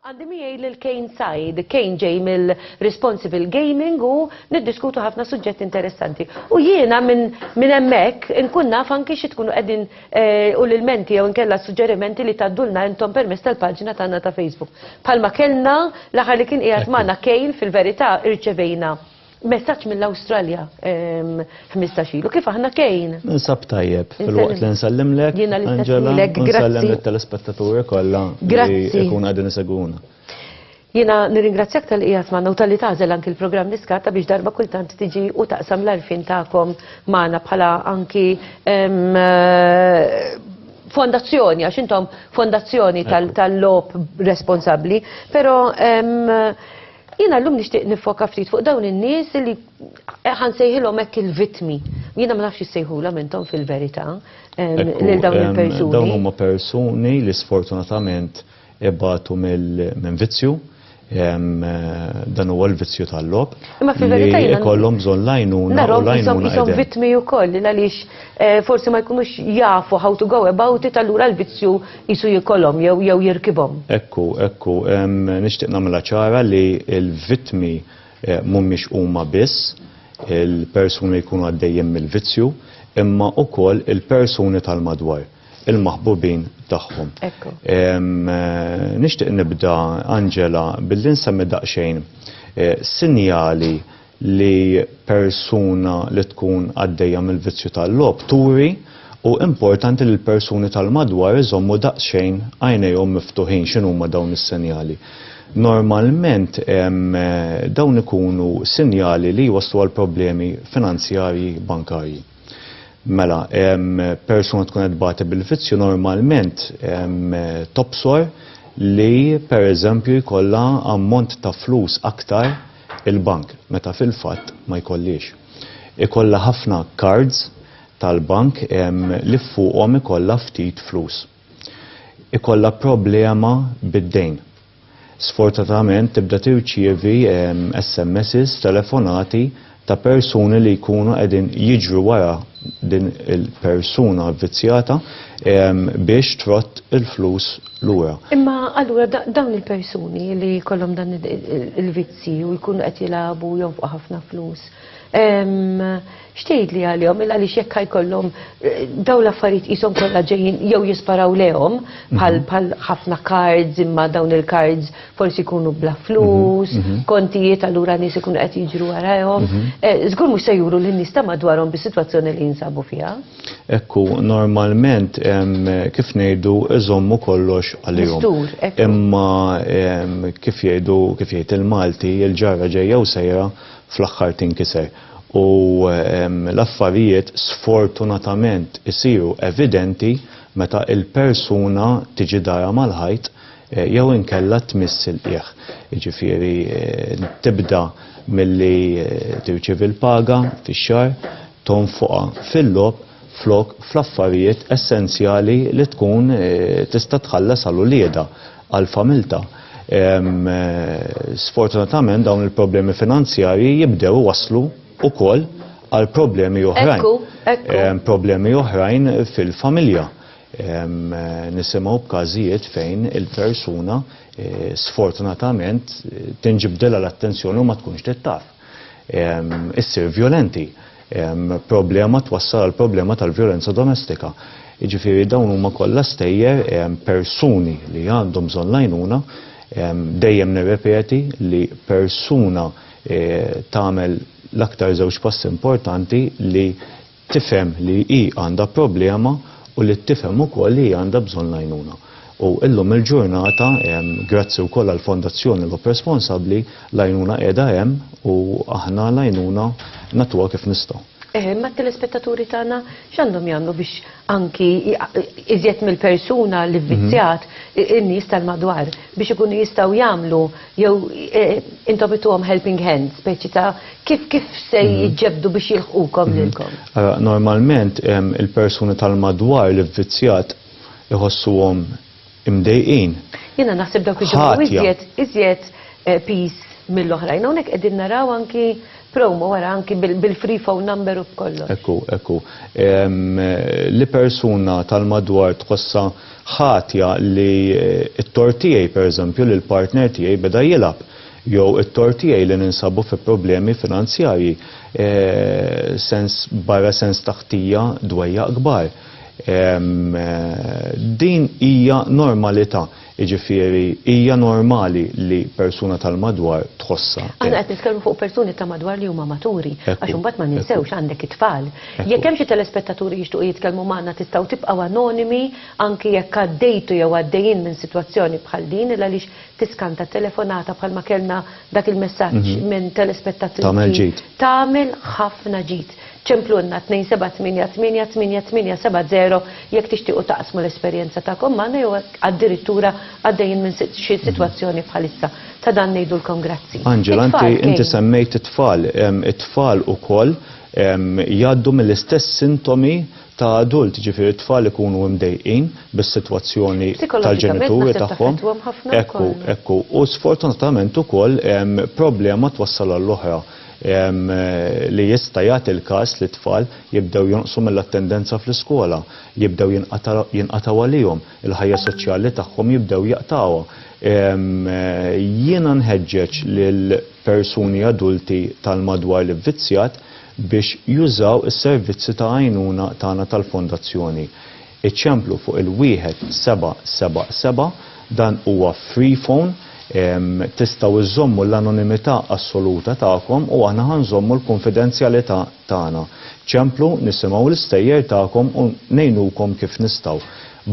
Għandi miegħi lil Kane Said, Kane ġej mill-Responsible Gaming u niddiskutu ħafna suġġetti interessanti. U jiena minn min hemmhekk inkun naf anki xi tkunu qegħdin eh, u l-ilmenti jew inkella suġġerimenti li taddulna intom permezz tal-paġna tagħna ta' Facebook. Palma kellna l-aħħar li kien qiegħed magħna Kane fil-verità irċevejna Messaġġ mill-Awstralja 15 ilu, kif aħna kejn? Nsab tajjeb, fil-waqt li nsallimlek, Jiena l-istess lek, grazzi. telespettaturi kollha li jkun għadin iseguna. Jiena nirringrazzjak tal-qijat magħna u tal-li tażel anki l-programm niskata biex darba kultant tiġi u taqsam l-arfin tagħkom magħna bħala anki fondazzjoni, għax intom fondazzjoni tal-lob responsabli, pero Jiena llum nixtieq nifoka ftit fuq dawn in-nies li ħansejħilhom hekk il-vittmi. Jiena ma nafx issejħulhom intom fil-verità lil dawn il-persuni. Dawn huma persuni li sfortunatament ibatu minn vizzju dan huwa l-vizzju tal-logħob. Imma fil-verità jiena ikollhom bżonn l-għajnuna. Narhom ishom vittmi wkoll għaliex forsi ma jkunux jafu how to go about it allura l-vizzju qisu jikolhom jew jew jirkibhom. Ekku, ekku, nixtieq nagħmilha ċara li l-vittmi eh, mhumiex huma biss il-persuni jkunu għaddejjin mill-vizzju, imma ukoll il-persuni tal-madwar il-maħbubin tagħhom. Eh, nixtieq nibda Angela billi nsemmi daqsxejn eh, sinjali li persuna li tkun għaddejja mill-vizzju tal-logħob turi u importanti li l-persuni tal-madwar iżommu daqsxejn għajnejhom miftuħin x'inhuma dawn is-sinjali. Normalment dawn ikunu sinjali li jwasslu għal problemi finanzjarji bankarji. Mela, persuna tkun qed tbati bil-vizzju normalment tobsor li pereżempju jkollha ammont ta' flus aktar il-bank, meta fil-fatt ma jkollhiex. Ikollha ħafna cards tal-bank li fuqhom ikollha ftit flus. Ikollha problema bid-dejn. Sfortunatament tibda tirċievi SMSs, telefonati ta' persuni li jkunu qegħdin jiġru wara din il-persuna vvizzjata biex trodd il-flus l-UE. Imma allura dawn il-persuni li kollhom dan il-vizzi u jkunu qed jilagħbu jonfqu ħafna flus. Xtejd li għalihom il għaliex jekk jkollhom eh, dawn l-affarijiet qishom kollha ġejjin jew jisparaw lehom bħal mhm. ħafna cards imma dawn il-cards forsi jkunu bla mhm. flus, mhm. kontijiet allura nies ikunu qed jiġru warahom. Eh, żgur mhux se juru lin-nies ta' madwarhom bis-sitwazzjoni li jinsabu fiha. Ekku, normalment, kif ngħidu, iżommu kollox għalihom. Mistur, ekku. Imma kif jgħidu, kif jgħid il-Malti, il-ġarra ġejja u sejra fl-aħħar tinkiser. U l-affarijiet sfortunatament isiru evidenti meta l-persuna tiġi darha mal-ħajt eh, jew inkella tmiss il-qiegħ. Jiġifieri eh, tibda milli eh, tirċievi l-paga fix-xahar, tonfoqha fil-logħob flok fl-affarijiet essenzjali li tkun tista' tħallas għal uliedha, għal familtha. Sfortunatament dawn il-problemi finanzjarji jibdew iwasslu wkoll għal problemi oħrajn. Problemi oħrajn fil-familja. Nisimgħu b'każijiet fejn il-persuna sfortunatament tinġibdilha l-attenzjoni u ma tkunx trid taf. issir vjolenti. Problema twassal għal problema tal-vjolenza domestika. Jiġifieri dawn huma kollha stejjer persuni li għandhom bżonn lajnuna dejjem nirrepeti li persuna eh, tagħmel l-aktar żewġ passi importanti li tifhem li hi għandha problema u li tifhem ukoll li hi għandha bżonn l-għajnuna. U llum il-ġurnata, grazzi wkoll għall-Fondazzjoni Lob Responsabbli, l-għajnuna qiegħda hemm u aħna l-għajnuna nagħtuha kif nistgħu. Eħe, imma t-telespettaturi tagħna x'għandhom jagħmlu biex anki iżjed mill-persuna li vvizzjat, in-nies tal-madwar biex ikunu jistgħu jagħmlu Jew intom ittuhom helping hand, speċi ta' kif kif se jġebdu biex jilħqukom lilkom? Normalment il-persuni tal-madwar li vvizzjat iħossuhom imdejqin. Jiena naħseb dawk iġibu iżjed iżjed peace mill-oħrajn. Hawnhekk qegħdin naraw anki promo wara anki bil-free phone number u b'kollox. Ekku, ekku. Li persuna tal-madwar tħossha ħatja li t-tort tiegħi, pereżempju, li l-partner tiegħi beda jilgħab jew it-tort tiegħi li ninsabu fi problemi finanzjarji, sens barra sens ta' ħtija dwejjaq kbar. Din hija normalità, jiġifieri hija normali li persuna tal-madwar tħossha hekk. Aħna qed nitkellmu fuq persuni ta' madwar li huma maturi, għax imbagħad ma ninsewx għandek it-tfal, Jekk hemm xi telespettaturi jixtuqu jitkellmu magħna tistgħu tibqgħu anonimi anki jekk għaddejtu jew għaddejjin minn sitwazzjoni bħal din il għaliex tiskanta telefonata bħalma kellna dak il-messaġġ minn telespettatri Tagħmel ġid. Tagħmel ħafna ġid. Ċemplulna 27888870 jekk tixtiequ taqsmu l-esperjenza tagħkom magħna jew hekk addirittura għaddejjin minn xi sitwazzjoni bħalissa. Ta' dan ngħidulkom grazzi. Angela, inti semmejt it-tfal. It-tfal ukoll jgħaddu mill-istess sintomi ta' adult, jiġifieri t-tfal ikunu imdejqin bis-sitwazzjoni tal-ġenituri tagħhom. Ekku, ekku. U sfortunatament ukoll problema twassal għall-oħra li jista' jagħti l-każ li t-tfal jibdew jonqsu mill-attendenza fl-iskola, jibdew jinqatgħu għalihom, il-ħajja soċjali tagħhom jibdew jaqtgħuha. Jiena nħeġġeġ lil persuni adulti tal-madwar l-ivvizzjat biex jużaw is-servizzi ta' għajnuna tagħna tal-Fondazzjoni. Iċemplu fuq il-1777, dan huwa free phone, tistgħu iżżommu l-anonimità assoluta tagħkom u aħna ħa nżommu l-kunfidenzjalità tagħna. Ċemplu, nisimgħu l-istejjer tagħkom u ngħinukom kif nistgħu.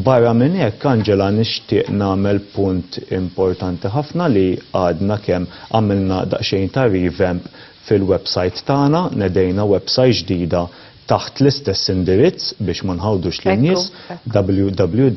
Barra minn hekk, Angela, nixtieq nagħmel punt importanti ħafna li għadna kemm għamilna daqsxejn ta' revamp fil-websajt tagħna, nedejna websajt ġdida taħt l-istess indirizz biex ma nħawdux lin-nies, www.rgf.org.mt.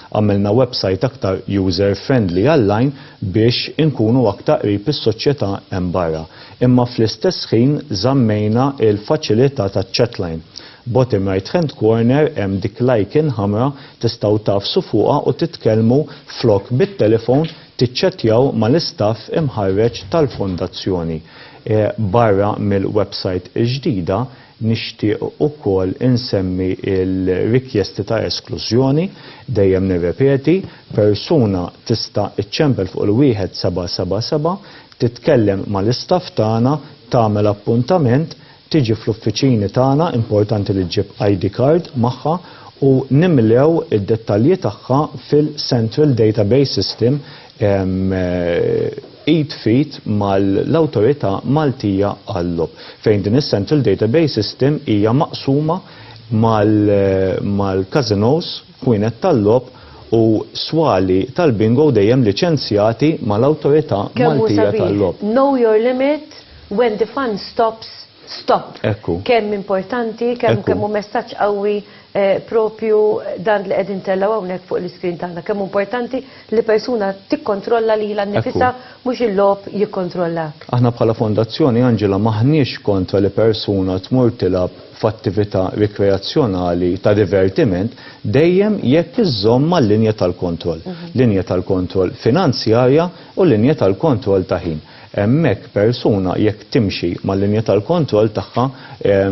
Għamilna websajt aktar user friendly għall-għajn biex inkunu aktar qrib is-soċjetà hemm barra. Imma fl-istess ħin żammejna l-faċilità taċ-chatline. Bottom right hand corner hemm dik l-icon ħamra tistgħu tagħfsu fuqha u titkellmu flok bit-telefon tiċċettjaw mal-istaff imħarreġ tal-Fondazzjoni. Barra mill-websajt il-ġdida, Nixtieq ukoll insemmi l-rikjesti ta' esklużjoni, dejjem nirrepeti, persuna tista' iċċempel fuq il-wieħed seba' seba' seba', titkellem mal-istaff tagħna, tagħmel appuntament, tiġi fl-uffiċini tagħna, importanti li ġġib ID card magħha, u nimlew id-dettalji tagħha fil-Central Database System, id f'id mal-Awtorità Maltija għal-Logħob, fejn din is-Central Database System hija maqsuma mal-każinòs, kwinet tal-logħob u swali tal-bingo dejjem liċenzjati mal-Awtorità Maltija tal-Logħob. Kemm hu sabiħ, know your limit, when the fun stops, stop. Ekku. Kemm importanti, kemm hu messaġġ qawwi propju dan li qegħdin tellgħu hawnhekk fuq l-iskrin tagħna kemm importanti li persuna tikkontrolla lilha nnifisha mhux il-logħob jikkontrollak. Aħna bħala fondazzjoni Angela m'aħniex kontra li persuna tmur tilgħab f'attività rikreazzjonali ta' divertiment dejjem jekk iżżomm mal-linja tal-kontroll, linja tal-kontroll finanzjarja u linja tal-kontroll ta' ħin. Hemmhekk persuna jekk timxi mal-linja tal-kontroll tagħha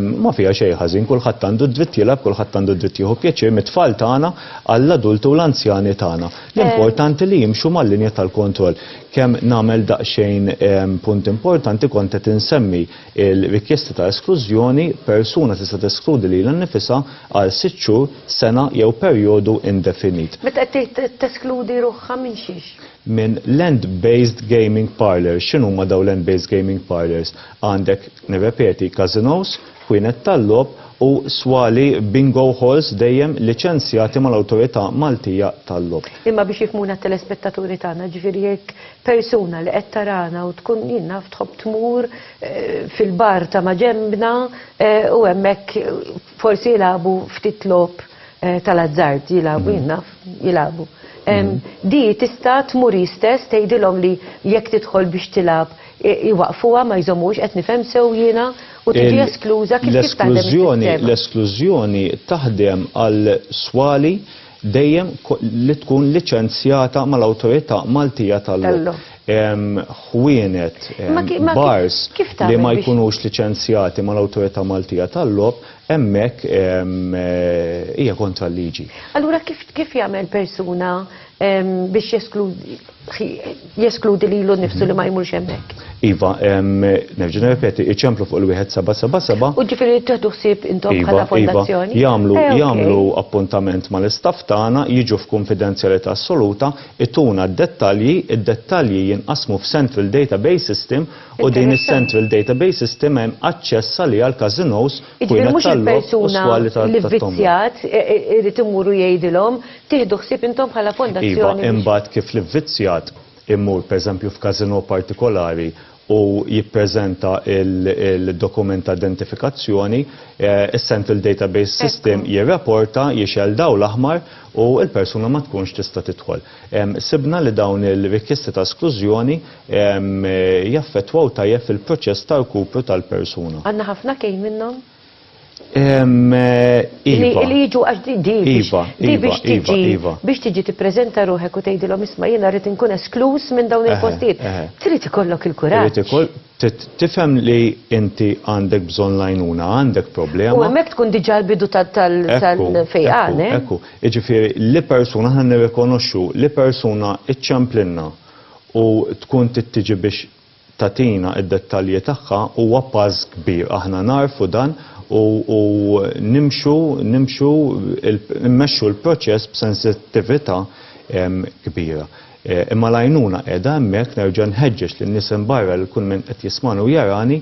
ma fiha xejn ħażin, kulħadd għandu d-dritt jilgħab, kulħadd għandu d-dritt jieħu pjaċir mit-tfal tagħna għall-adulti u l-anzjani tagħna. L-importanti li jimxu mal-linja tal-kontroll. Kemm nagħmel daqsxejn punt importanti kont qed insemmi l-rikjesta ta' esklużjoni, persuna tista' teskludi lilha nnifisha għal sitt xhur, sena jew perjodu indefinit. Meta qed tgħid teskludi ruħha minn xiex? minn land-based gaming parlours. X'inhuma dawn land-based gaming parlours? Għandek, nirrepeti, każinòs, ħwienet tal-logħob u swali bingo halls dejjem liċenzjati mal-Awtorità Maltija tal-Logħob. Imma biex jifhmuna t-telespettaturi tagħna, jiġifieri jekk persuna li qed tarana u tkun, jien naf, tħobb tmur fil-bar ta' maġenbna u hemmhekk Forsi jilagħbu ftit logħob eh, tal-azzard, jilagħbu jien naf, jilagħbu. Em, Di tista' tmur istess tgħidilhom li jekk tidħol biex tilgħab i- iwaqfuha ma jżommux qed nifhem sew jiena u tiġi Il- eskluża kif kif taħdem L-esklużjoni, is-sistema. l-esklużjoni taħdem għal swali dejjem li tkun liċenzjata mal-Awtorità Maltija tal-Logħob. Ħwienet, bars li ma jkunux liċenzjati mal-Awtorità Maltija tal-Logħob hemmhekk hija kontra l-liġi. Allura kif jagħmel persuna biex jeskludi jeskludi li l nifsu li ma jmurx hemmhekk. Iva, nerġa' nirrepeti, iċemplu fuq il-wieħed seba' seba' seba'. U ġifieri li tieħdu ħsieb intom iva, bħala iva. fondazzjoni. Jagħmlu eh, jagħmlu appuntament mal-istaff tagħna, jiġu f'kunfidenzjalità assoluta, ituna d-dettalji, id-dettalji jinqasmu f'Central Database System u din is-Central Database System hemm aċċess għalija għal każinos u tal-lok u swali tal-tombola. Iġifieri mhux il-persuna li vvizzjat irid imur u jgħidilhom tieħdu ħsieb intom bħala fondazzjoni. Iva, imbagħad kif l-ivvizzjat imur pereżempju f'każinò partikolari u jippreżenta l-dokument ta' identifikazzjoni, is-central database system jirraporta, jixgħel dawl l-aħmar u l-persuna ma tkunx tista' tidħol. Sibna li dawn il-rikjesti ta' esklużjoni jaffettwaw tajjeb fil-proċess ta' rkupru tal-persuna. Għandna ħafna kejl minnhom? Iva. Li jiġu għax di di iva, iva, biex iva, tiġi biex tiġi tippreżenta ruħek u tgħidilhom isma' jiena rrid inkun eskluż minn dawn il-postijiet. Trid ikollok il-kuraġġ. Tifhem li inti għandek bżonn lajnuna, għandek problema. U hemmhekk tkun diġà l-bidu tal-fejqan. Eh? Ekku, jiġifieri li persuna ħan nirrikonoxxu li persuna iċċemplinna u tkun tittiġi biex tagħtina d-dettalji tagħha huwa pass kbir. Aħna nagħrfu dan u u nimxu nimxu il immexxu l-proċess b'sensittività kbira. Imma l-għajnuna qiegħda hemmhekk, nerġa' nħeġġeġ lin-nies hemm barra lil kull min qed jismagħni u jarani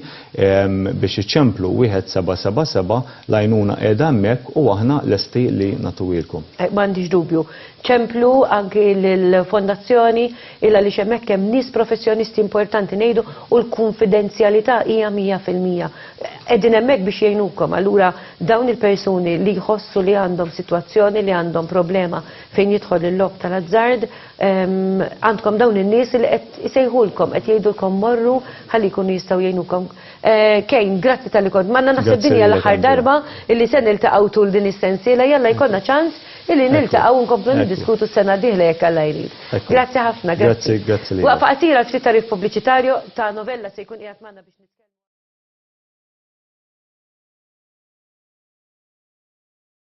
biex iċemplu wieħed seba' seba' seba', l-għajnuna qiegħda hemmhekk u aħna lesti li nagħtuhielkom. M'għandix dubju. Ċemplu anki lill-Fondazzjoni il għaliex hemmhekk hemm nies professjonisti importanti ngħidu u l-kunfidenzjalità hija 100%. Qegħdin hemmhekk biex jgħinukom. Allura dawn il-persuni li jħossu li għandhom sitwazzjoni li għandhom problema fejn jidħol il-logħob tal-azzard, ehm, għandkom dawn in-nies li qed isejħulkom, qed jgħidulkom morru ħalli jkunu jistgħu jgħinukom. Eh, Kejn, grazzi tal-li kont. Manna naħseb dinja l-aħħar darba illi se niltaqgħu tul din is-sensiela, jalla jkollna ċans Illi niltaqgħu nkomplu niddiskutu s-sena diħla jekk Alla jrid. Grazzi ħafna, grazzi. Grazzi, grazzi li. Waqfa qasira ftit tarif pubbliċitarju ta' novella se jkun qiegħed magħna biex